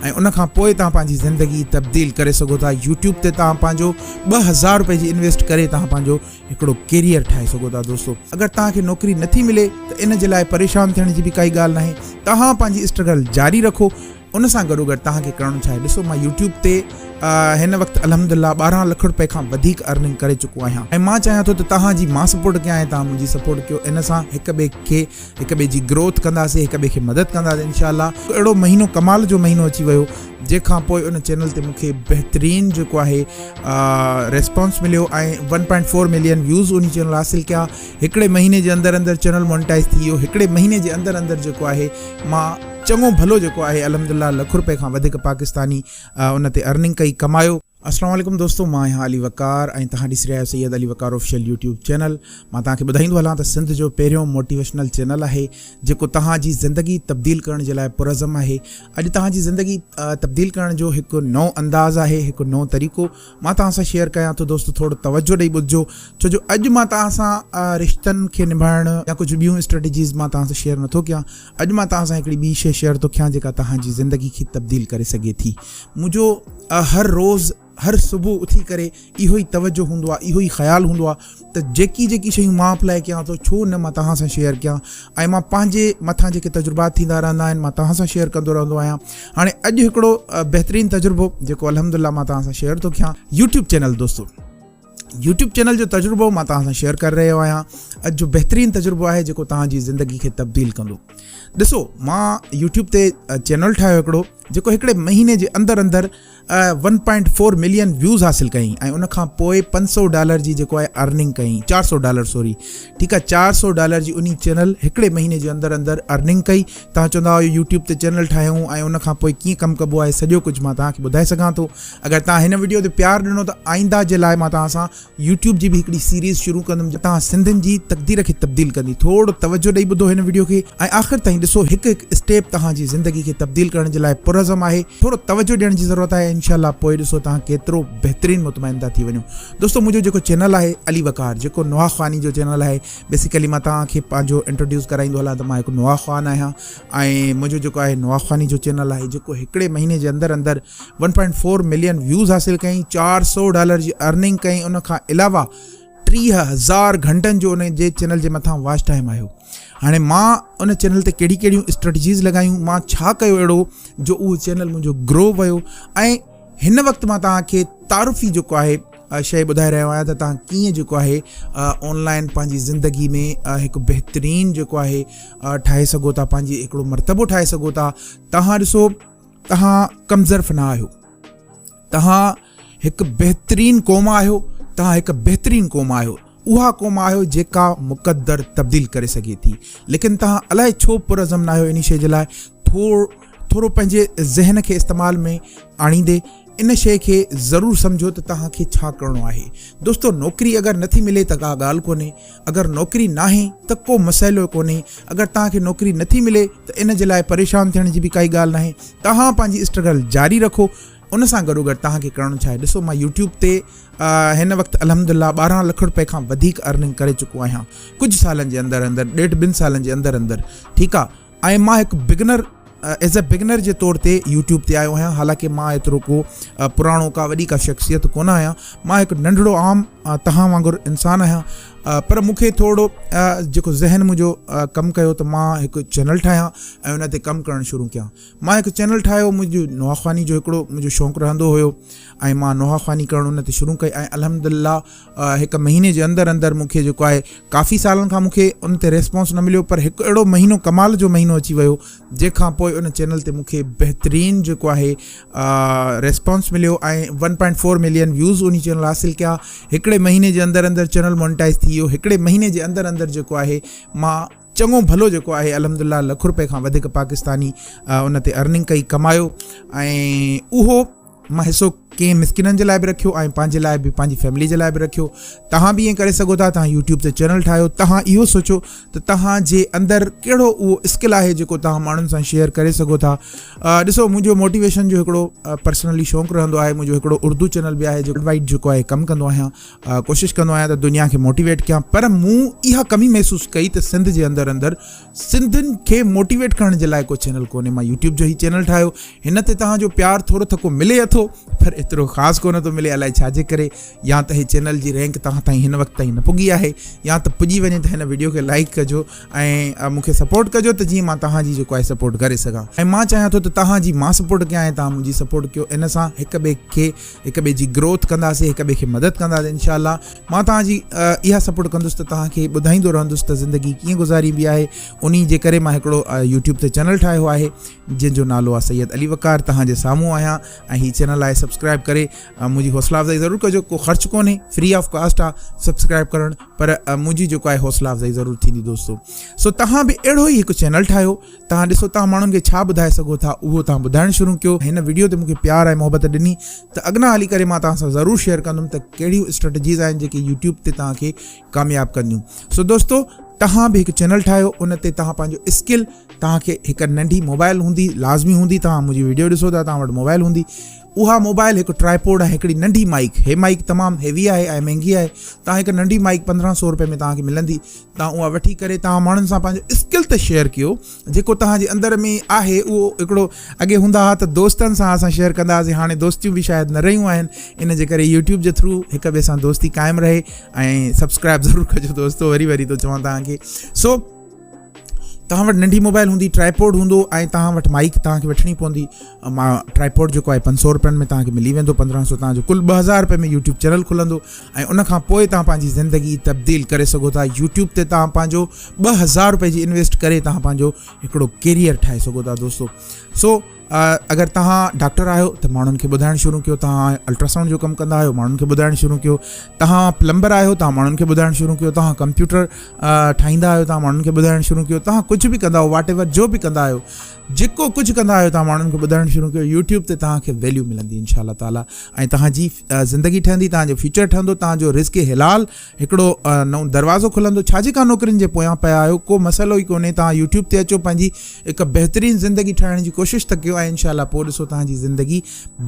۽ ان کان پوء توهان پنهنجي زندگي تبديل ڪري سگهو ٿا يوٽيوب تي توهان پنهنجو ٻه هزار روپئي جي انويسٽ ڪري توهان پنهنجو هڪڙو ڪيريئر ٺاهي سگهو ٿا دوستو اگر توهان کي نوڪري نٿي ملي ته ان جي لاء پريشان ٿيڻ جي به ڪائي ڳالهه ناهي توهان پنهنجي اسٽرگل جاري رکو ان سان گڏو گڏ توهان کي ڪرڻو ڇا آهي ڏسو مان يوٽيوب تي هن وقت الحمد لله ٻارهن لک روپئي کان وڌيڪ ارننگ ڪري چڪو آهيان ۽ مان چاهيان ٿو ته توهان جي مان سپورٽ ڪيان ۽ توهان منهنجي سپورٽ ڪيو ان سان هڪ ٻئي کي هڪ ٻئي جي گروٿ ڪنداسين هڪ ٻئي کي مدد ڪنداسين انشاء الله اهڙو مهينو کمال جو مهينو اچي ويو جنهن کان پوء ان چينل تي مونکي بهترين جيڪو آهي ريسپانس مليو ۽ one point four million views ان چينل حاصل ڪيا هڪڙي مهيني جي اندر اندر چينل مونيٽائز ٿي ويو هڪڙي مهيني جي اندر اندر جيڪو آهي مان چڱو ڀلو جيڪو آهي الحمد لله لک روپئي کان وڌيڪ پاڪستاني ان تي ارننگ ڪئي ڪمايو السلام عليڪم دوستو مان آهيان علي وقار ۽ توهان ڏسي رهيا آهيو Syed Ali Waqar official YouTube channel مان توهان کي ٻڌائيندو هلان ته سنڌ جو پهريون موٽيويشنل چينل آهي جيڪو توهان جي زندگي تبديل ڪرڻ جي لاء پرعزم آهي اڄ توهان جي زندگي تبديل ڪرڻ جو هڪ نئون انداز آهي هڪ نئون طريقو مان توهان سان شيئر ڪيان ٿو دوستو ٿورو توجه ڏيئي ٻڌجو ڇو جو اڄ مان توهان سان رشتن کي نڀائڻ يا ڪجهه ٻيون اسٽريٽجيز مان توهان سان شيئر نٿو ڪيان اڄ مان توهان سان هڪڙي ٻي شيء شيئر ٿو ڪيان جيڪا توهان جي زندگي کي تبديل ڪري سگهي ٿي. منهنجو هر روز هر صبح اٿي ڪري اهو ئي توجه هوندو آهي اهو ئي خيال هوندو آهي ته جيڪي جيڪي شيون مان اپلائي ڪيان ٿو ڇو نه مان توهان سان شيئر ڪيان ۽ مان پنهنجي مٿان جيڪي تجربات ٿيندا رهندا آهن مان توهان سان شيئر ڪندو رهندو آهيان هاڻي اڄ هڪڙو بهترين تجربو جيڪو الحمد لله مان توهان سان شيئر ٿو ڪيان يوٽيوب چينل دوستو يوٽيوب چينل جو تجربو مان توهان سان شيئر ڪري رهيو آهيان اڄ جو بهترين تجربو آهي جيڪو توهان جي زندگي کي تبديل ڪندو ڏسو مان يوٽيوب تي چينل ٺاهيو هڪڙو جيڪو هڪڙي مهيني جي اندر اندر one point four million views حاصل ڪيائين ۽ ان کان پوء پنج سو ڊالر جي جيڪو آهي ارننگ ڪيائين چار سو ڊالر سوري ٺيڪ آهي چار سو ڊالر جي ان چينل هڪڙي مهيني جي اندر اندر ارننگ ڪئي توهان چوندا هئا يو ٽيوب تي چينل ٺاهيون ۽ ان کان پوء ڪيئن ڪم ڪبو آهي سڄو ڪجهه مان توهان کي ٻڌائي سگهان ٿو اگر توهان هن ويڊيو تي پيار ڏنو ته آئنده جي لاء مان توهان سان يو ٽيوب جي به هڪڙي سيريز شروع ڪندم جي توهان سنڌين جي تقدير کي تبديل ڪندي ٿورڙو توجهه ڏئي ٻڌو هن ويڊيو کي ۽ آخر تائين ڏسو هڪ هڪ اسٽيپ توهان جي زندگي کي تبديل ڪرڻ جي لاء پرعزم آهي ٿورو توجهه ڏيڻ جي ضرورت آهي انشاء الله پوء ڏسو توهان ڪيترو بهترين مطمئن ٿا ٿي وڃو دوستو منهنجو جيڪو چينل آهي علي وقار جيڪو نوحا خواني جو چينل آهي بيسيڪلي مان توهان کي پنهنجو انٽروڊيوس ڪرائيندو هلان ته مان هڪ نوا خوان آهيان ۽ منهنجو جيڪو آهي نوا خواني جو چينل آهي جيڪو هڪڙي مهيني جي اندر اندر one point four million views حاصل ڪيائين چار سو ڊالر جي ارننگ ڪيائين ان کان علاوه ٽيهه هزار گهنٽن جو ان جي چينل جي مٿان واچ ٽائم آيو هاڻي مان ان چينل تي ڪهڙي ڪهڙيون اسٽريٽجيز لڳايون مان ڇا ڪيو اهڙو جو اهو چينل منهنجو گرو ويو ۽ هن وقت مان توهان کي تعارفي جيڪو آهي شيء ٻڌائي رهيو آهيان ته تهان ڪيئن جيڪو آهي آن لائن پنهنجي زندگي ۾ هڪ بهترين جيڪو آهي ٺاهي سگهو ٿا پنهنجي هڪڙو مرتبو ٺاهي سگهو ٿا تهان ڏسو تهان ڪمزرف نه آهيو تهان هڪ بهترين قوم آهيو تهان هڪ بهترين قوم آهيو اها قوم آهيو جيڪا مقدر تبديل ڪري سگهي ٿي ليڪن تهان الائي ڇو پرزم نه آهيو ان شيء جي لاء ٿور ٿورو پنهنجي ذهن کي استعمال ۾ آڻيندي ان شيء کي ضرور سمجهو ته توهان کي ڇا ڪرڻو آهي. دوستو نوڪري اگر نٿي ملي ته ڪا ڳالهه ڪونهي. اگر نوڪري ناهي ته ڪو مسئلو ئي ڪونهي. اگر توهان کي نوڪري نٿي ملي ته ان جي لاء پريشان ٿيڻ جي به ڪائي ڳالهه ناهي. توهان پنهنجي اسٽرگل جاري رکو. ان سان گڏوگڏ توهان کي ڪرڻو ڇا آهي. ڏسو مان يوٽيوب تي هن وقت الحمدالله ٻارهن لک روپئي کان وڌيڪ ارننگ ڪري چڪو آهيان. ڪجهه سالن جي اندر اندر ڏيڍ ٻن سالن جي اندر اندر ٺيڪ آهي. ۽ مان هڪ بگنر ايز اي بگنر جي طور تي يوٽيوب تي آيو آهيان حالانڪه مان ايترو ڪو پراڻو ڪا وڏي ڪا شخصيت ڪونه آهيان مان هڪ ننڍڙو عام تهان وانگر انسان آهيان پر مون کي ٿورو جيڪو ذهن منهنجو ڪم ڪيو ته مان هڪ چينل ٺاهيان ۽ ان تي ڪم ڪرڻ شروع ڪيان مان هڪ چينل ٺاهيو منهنجو نواخواني جو هڪڙو منهنجو شوق رهندو هيو ۽ مان نواخواني ڪرڻ ان تي شروع ڪئي ۽ الحمد لله هڪ مهيني جي اندر اندر مون کي جيڪو آهي ڪافي سالن کان مون کي ان تي ريسپانس نه مليو پر هڪ اهڙو مهينو ڪمال جو مهينو اچي ويو جنهن کان پوء ان چينل تي مون کي بهترين جيڪو آهي ريسپانس مليو ۽ one point four million views ان چينل حاصل ڪيا هڪڙي مهيني جي اندر اندر چينل مونٽائز ٿي ويو هڪڙي مهيني جي اندر اندر جيڪو آهي مان چڱو ڀلو جيڪو آهي الحمد لله لک روپئي کان وڌيڪ پاڪستاني ان تي ارننگ ڪئي ڪمايو ۽ اهو مان حصو ڪئين مسڪينن جي لاء به رکيو ۽ پنهنجي لاء به پنهنجي فيملي جي لاء به رکيو توهان به ائين ڪري سگهو ٿا توهان يوٽيوب تي چينل ٺاهيو توهان اهو سوچو ته توهان جي اندر ڪهڙو اهو اسڪل آهي جيڪو توهان ماڻهن سان شيئر ڪري سگهو ٿا ڏسو منهنجو موٽيويشن جو هڪڙو پرسنلي شوق رهندو آهي منهنجو هڪڙو اردو چينل به آهي جيڪو وائٽ جيڪو آهي ڪم ڪندو آهيان ڪوشش ڪندو آهيان ته دنيا کي موٽيويٽ ڪيان پر مون اها ڪمي محسوس ڪئي ته سنڌ جي اندر اندر سنڌين کي موٽيويٽ ڪرڻ جي لاء ڪو چينل ڪونهي مان يوٽيوب جو هي چينل ٺاهيو هن تي توهان جو پيار ٿورو ٿڪو ملي اٿو پر ايترو خاص ڪونه ٿو ملي الائي ڇا جي ڪري يا ته هي چينل جي رينڪ توهان تائين هن وقت تائين نه پڳي آهي يا ته پڄي وڃي ته هن ويڊيو کي لائڪ ڪجو ۽ مون کي سپورٽ ڪجو ته جيئن مان توهان جي جيڪو آهي سپورٽ ڪري سگهان ۽ مان چاهيان ٿو ته توهان جي مان سپورٽ ڪيان ۽ توهان منهنجي سپورٽ ڪيو ان سان هڪ ٻئي کي هڪ ٻئي جي گروٿ ڪنداسي هڪ ٻئي کي مدد ڪنداسي انشاء الله مان توهان جي اها سپورٽ ڪندس ته توهان کي ٻڌائيندو رهندس ته زندگي ڪيئن گذاريبي آهي ان جي ڪري مان هڪڙو يوٽيوب تي چينل ٺاهيو آهي جنهن جو نالو آهي سيد علي وقار توهان جي سامهون آهيان ۽ هي چينل آهي سبسڪرائب ڪري منهنجي حوصله افزائي ضرور ڪجو ڪو خرچ ڪونهي فري آف ڪاسٽ آ سبسڪرائب ڪرڻ پر منهنجي جيڪو آهي حوصله افزائي ضرور ٿيندي دوستو سو توهان به اهڙو ئي هڪ چينل ٺاهيو توهان ڏسو توهان ماڻهن کي ڇا ٻڌائي سگهو ٿا اهو توهان ٻڌائڻ شروع ڪيو هن وڊيو تي مونکي پيار ۽ محبت ڏني ته اڳنا هلي ڪري مان توهان سان ضرور شيئر ڪندم ته ڪهڙيون اسٽريٽجيز آهن جيڪي يوٽيوب تي توهان کي ڪامياب ڪنديون سو دوستو توهان به هڪ چينل ٺاهيو ان تي توهان پنهنجو اسڪل توهان کي هڪ ننڍي موبائل هوندي لازمي هوندي توهان منهنجي ويڊيو ڏسو ٿا توهان وٽ موبائل هوندي اها موبائل هڪ ٽرائيپوڊ ۽ هڪڙي ننڍي مائيڪ هي مائيڪ تمام هيوي آهي ۽ مهنگي آهي تان هڪ ننڍي مائيڪ پندرهن سو روپئي ۾ توهان کي ملندي تان اها وٺي ڪري توهان ماڻهن سان پنهنجو اسڪل ته شيئر ڪيو جيڪو توهان جي اندر ۾ آهي اهو هڪڙو اڳي هوندا ها ته دوستن سان اسان شيئر ڪندا هاسي هاڻي دوستيون به شايد نه رهيون آهن ان جي ڪري يوٽيوب جي ٿرو هڪ ٻئي سان دوستي قائم رهي ۽ سبسڪرائب ضرور ڪجو دوستو وري وري ٿو چوان توهان کي سو توهان وٽ ننڍي موبائل هوندي ٽرائيپوڊ هوندو ۽ توهان وٽ مائيڪ توهان کي وٺڻي پوندي ماء ٽرائيپوڊ جيڪو آهي پنج سؤ روپين ۾ توهان کي ملي ويندو پندرهن سؤ توهان جو کل ٻه هزار روپين ۾ يوٽيوب چينل کلندو ۽ ان کان پوء توهان پنهنجي زندگي تبديل ڪري سگهو ٿا يوٽيوب تي توهان پنهنجو ٻه هزار روپئي جي انويسٽ ڪري توهان پنهنجو هڪڙو ڪيريئر ٺاهي سگهو ٿا دوستو سو اگر تهان ڊاڪٽر آهيو ته ماڻهن کي ٻڌائڻ شروع ڪيو تهان الٽراسائونڊ جو ڪم ڪندا آهيو ماڻهن کي ٻڌائڻ شروع ڪيو تهان پلمبر آهيو تهان ماڻهن کي ٻڌائڻ شروع ڪيو تهان ڪمپيوٽر ٺاهيندا آهيو تهان ماڻهن کي ٻڌائڻ شروع ڪيو تهان ڪجهه به ڪندا واٽ ايور جو به ڪندا آهيو جيڪو ڪجهه ڪندا آهيو تهان ماڻهن کي ٻڌائڻ شروع ڪيو يوٽيوب تي تهان کي ويليو ملندي انشاء الله تعالیٰ ۽ تهانجي زندگي ٺهندي تهانجو فيوچر ٺهندو تهانجو رسڪ حلال هڪڙو نئون دروازو کلندو ڇا جيڪا نوڪرين جي پويان پيا آهيو ڪو مسئلو ئي ڪونهي توهان يوٽيوب تي اچو پنهنجي هڪ بهترين زندگي ٺاهڻ جي ڪوشش ته ڪيو ۽ انشاء الله پوء ڏسو توهان جي زندگي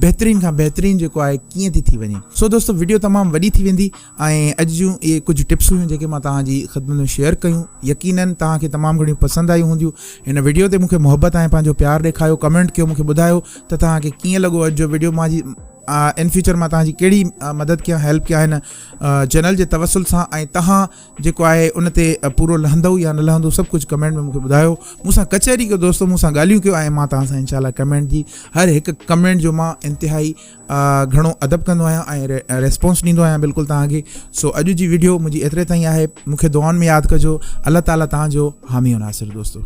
بهترين کان بهترين جيڪو آهي ڪيئن ٿي ٿي وڃي سو دوستو ويڊيو تمام وڏي ٿي ويندي ۽ اڄ جون اهي ڪجهه ٽپس هيون جيڪي مان توهان جي خدمت ۾ شيئر ڪيون يقينا توهان کي تمام گهڻيون پسند آيون هونديون هن ويڊيو تي مونکي محبت ۽ پنهنجو پيار ڏيکاريو ڪمينٽ ڪيو مونکي ٻڌايو ته توهان کي ڪيئن لڳو اڄ جو ويڊيو مان جي ان فيوچر مان توهان جي ڪهڙي مدد ڪيان هيلپ ڪيان هن چينل جي توسل سان ۽ تهان جيڪو آهي ان تي پورو لهندو يا نه لهندو سڀ ڪجهه ڪمينٽ ۾ مونکي ٻڌايو مون سان ڪچهري ڪيو دوستو مون سان ڳالهيون ڪيو ۽ مان تهان سان انشاء الله ڪمينٽ جي هر هڪ ڪمينٽ جو مان انتهائي گهڻو ادب ڪندو آهيان ۽ ريسپونس ڏيندو آهيان بلڪل تهان کي سو اڄ جي ويڊيو منهنجي ايتري تائين آهي مونکي دعائن ۾ ياد ڪجو الله تعالي تهان جو حامي ناصر دوستو